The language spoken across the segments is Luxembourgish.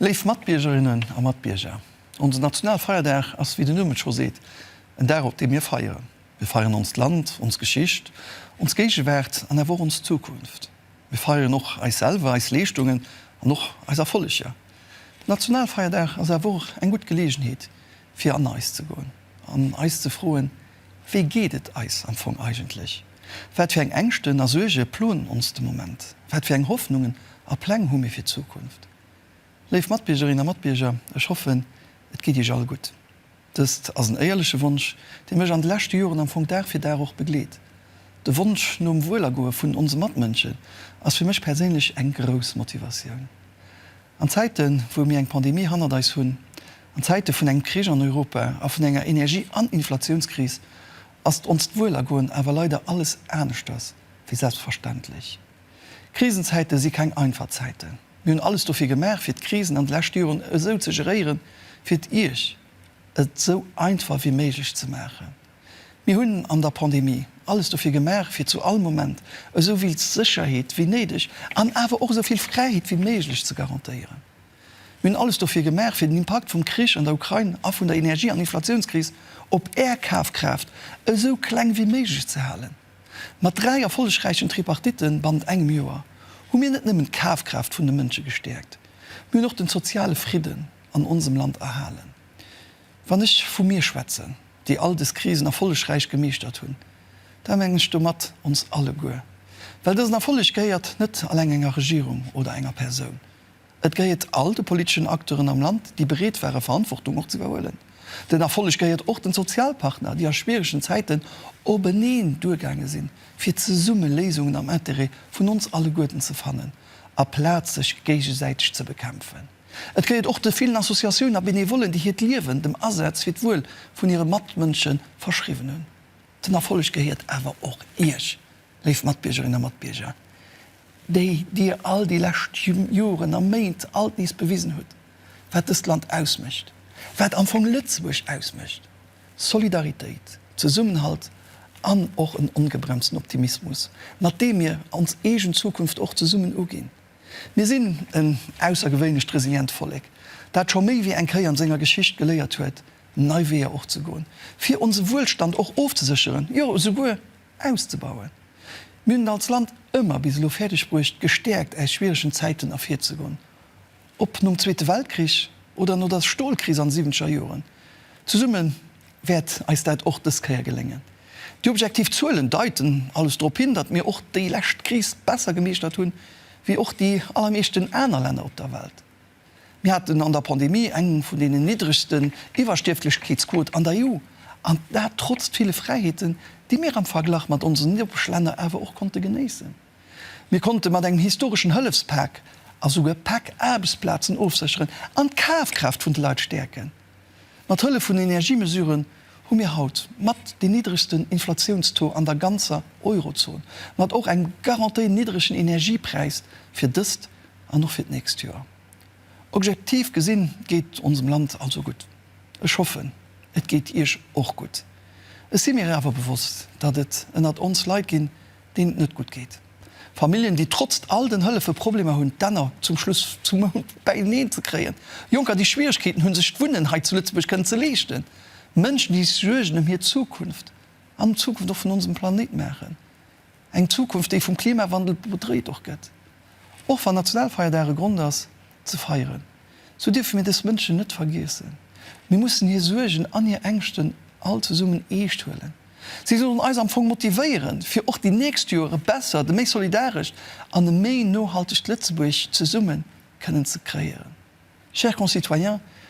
Léif Matbiergerinnen a Matbierger, onse Nationalfeierdag ass, wéi den Numm et scho seet, en Dag op deem mir feieren. Mir feieren onst Land, ons Geschicht, ons Géigewaart an awer och ons Zukunft. Mir feieren och eis selwer, eis Leeschtungen an och eis Erfolleger. Den Nationalfeierdag ass awer och eng gutt Geleegenheet fir an eis ze goen an eis ze froen, Wéi geet et eis am Fong eigentlech? Wat fir eng Ängschten a Suerge ploen ons de Moment? Wat fir eng Hoffnungen a Pläng hu mir fir d'Zukunft? Léif Matbiergerinnen a Matbierger, ech hoffen, et geet Iech all gutt. Dëst ass en éierleche Wonsch, dee mech an de leschte Joren am Fong Dag fir Dag och begleet. De Wonsch nom Wuelergoe vun onse Matmënschen ass fir mech perséinlech eng grouss Motivatioun. An Zäiten, wou mir eng Pandemie hannert eis hunn, an Zäite vun engem Krich an Europa a vun enger Energie an Inflatiounskris, ass onst Wuelergoen awer leider alles aneschters wéi selbstverständlech. Krisenzäite si keng einfach Zäiten. Mir hunn alles dofir gemaach, fir d'Krisen an de leschte Joren esou ze geréieren, fir et Iech et esou einfach wéi méiglech ze maachen. Mir hunn an der Pandemie alles dofir gemaach, fir zu all Moment esou vill Sécherheet wéi néideg an awer och esou vill Fräiheet wéi méiglech ze garantéieren. Mir hunn alles dofir gemaach, fir den Impakt vum Krich an der Ukrain a vun der Energie an Inflatiounskris op Är Kafkraaft esou kleng wéi méiglech ze halen. Mat dräi erfollegräichen Tripartitten bannent engem Joer hu mir net nëmmen d'Kafkraaft vun de Mënsche gestäerkt, mir hunn och den soziale Fridden an onsem Land erhalen. Wann ech vu mir schwätzen, déi all des Krisen erfollegräich gemeeschtert hunn, da mengen ech domat ons alleguer, well dësen Erfolleg gehéiert net alleng enger Regierung oder enger Persoun, Et gehéiert all de politeschen Acteuren am Land, déi bereet ware Verantwortung och ze iwwerhuelen. Den Erfolleg gehéiert och den Sozialpartner, déi a schwieregen Zäiten openeen duergaange sinn, fir zesumme Léisungen am Interêt vun ons alleguerten ze fannen, aplaz sech géigesäiteg ze bekämpfen. Et gehéiert och de villen Associatioun a Benevollen, déi hiert Liewen dem Asaz fir d'Wuel vun hire Matmënsche verschriwwen hunn. Den Erfolleg gehéiert awer och Iech, léif Matbiergerinnen a Matbierger, déi Dir all déi lescht Joren a Méint alt nees bewisen hutt, wat dëst Land ausmécht, wat am Fong Lëtzebuerg ausmécht, Solidaritéit, Zesummenhalt an och en ongebremsten Optimismus, mat deem mir ons eegen Zukunft och zesummen uginn. Mir sinn en aussergewéinlecht resilient Vollek, dat scho méi wéi eng Kéier an senger Geschicht geléiert huet, nei Weeër och ze goen, fir onse Wuelstand och ofzesécheren, jo esouguer auszebauen. Mir hunn et als Land ëmmer bis elo fäerdeg bruecht, gestäerkt aus schwieregen Zäiten ervirzegoen. Ob nom Zweete Weltkrich oder no der Stolkris an de siwwenzeger Joren, zesumme wäert eis dat och dës Kéier geléngen. Déi objektiv Zuelen deiten alles drop hin, datt mir och déi lescht Kris besser gemeeschtert hunn, wéi och déi allermeeschten aner Länner op der Welt. Mir haten an der Pandemie eng vun deenen niddregsten Iwwerstierflechkeetsquote an der EU, an dat trotzt ville Fräiheeten, déi mir am Verglach mat onsen Nopeschlänner awer och konnte genéissen. Mir konnte mat engem historeschen Hëllefspak a souguer Pak Aarbechtsplazen ofsécheren an d'Kafkraaft vun de Leit stäerken. Mat Hëllef vun Energiemesuren hu mir haut mat dee niddregsten Inflatiounstaux an der ganzer Eurozon, mat och engem garantéi niddregen Energiepräis fir dëst an och fir d'nächst Joer. Objektiv gesinn geet et onsem Land also gutt. Ech hoffen, et geet Iech och gutt. Ech si mir awer bewosst, datt et ënnert ons Leit ginn, deen et net gutt geet, Familljen, déi trotzt all den Hëllefe Problemer hunn, d'Enner zum Schluss zum Mount bäineen ze kréien, Jonker, déi Schwieregkeeten hunn, sech d'Wunnen hei zu Lëtzebuerg kënnen ze leeschten, Mënschen, déi sech Suergen ëm hir Zukunft an ëm d'Zukunft och vun onsem Planéit maachen, eng Zukunft, déi vum Klimawandel bedreet och gëtt, och wann Nationalfeierdag e Grond ass, ze feieren, sou dierfe mir dës Mënschen net vergiessen. Mir mussen hir Suergen an hir Ängschten all zesummen eescht huelen. Si sollen eis am Fong motivéieren, fir och déi nächst Joer e bessert, e méi solidarescht an e méi nohaltegt Lëtzebuerg zesumme kënnen ze kréieren. Chers concitoyens,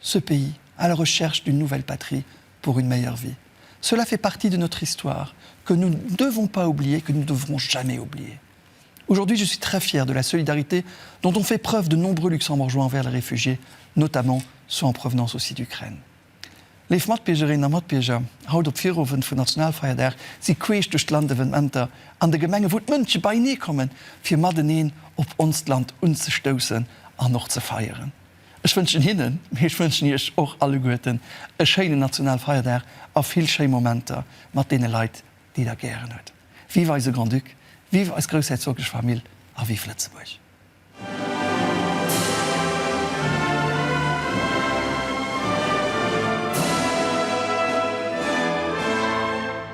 Ce pays à la recherche d'une nouvelle patrie pour une meilleure vie, cela fait partie de notre histoire que nous ne devons pas oublier et que nous ne devrons jamais oublier. Aujourd'hui, je suis très fière de la solidarité dont ont fait preuve de nombreux Luxembourgeois envers les réfugiés, notamment ceux en provenance aussi d'Ukraine. Léif Matbiergerinnen a Matbierger, haut op Virowend vun Nationalfeierdag si queesch duerch d'Land Evenementer an de Gemenge wou d'Mënsche beienee kommen fir mateneen op onst Land unzestoussen an och ze feieren. Ech wënschen hinnen, mee ech wënschen iech och alleguerten e schéinen Nationalfeierdag a vill schéi Momenter mat deene Leit, déi der gären hutt. Vive eise Grand-Duc, vive eis groussherzoglech Famill a vive Lëtzebuerg!